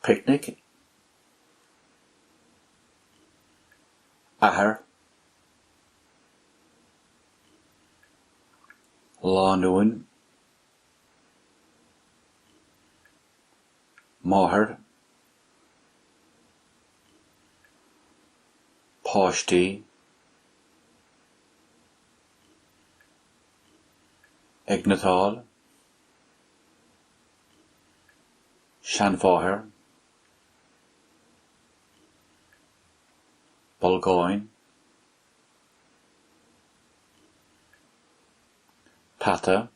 Picnic athair, lánúin, máthair. páistí a gniotáil, seanmháthair, bolgáin, peata,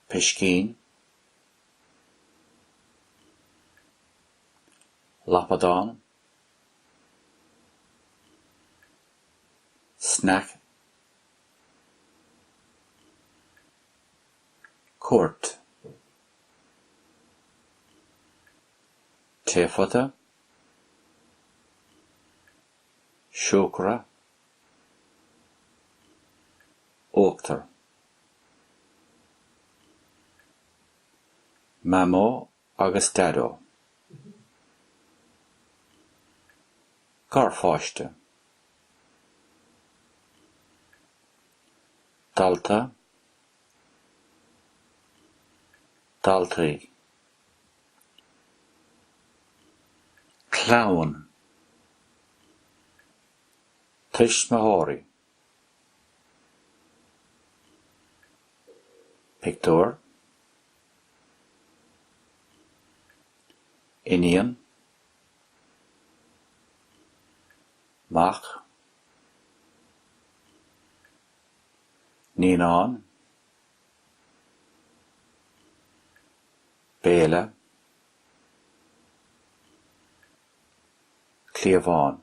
piscín. lapadán, sneaic, cuairt, taephota, siúcra, uachtar. Mamó agus Daideo. Garpháiste. Dalta. Daltaí. Clann. Tuismitheoirí. Pictiúr, Iníon, Mac, Naíonán, Béile, Cliabhán.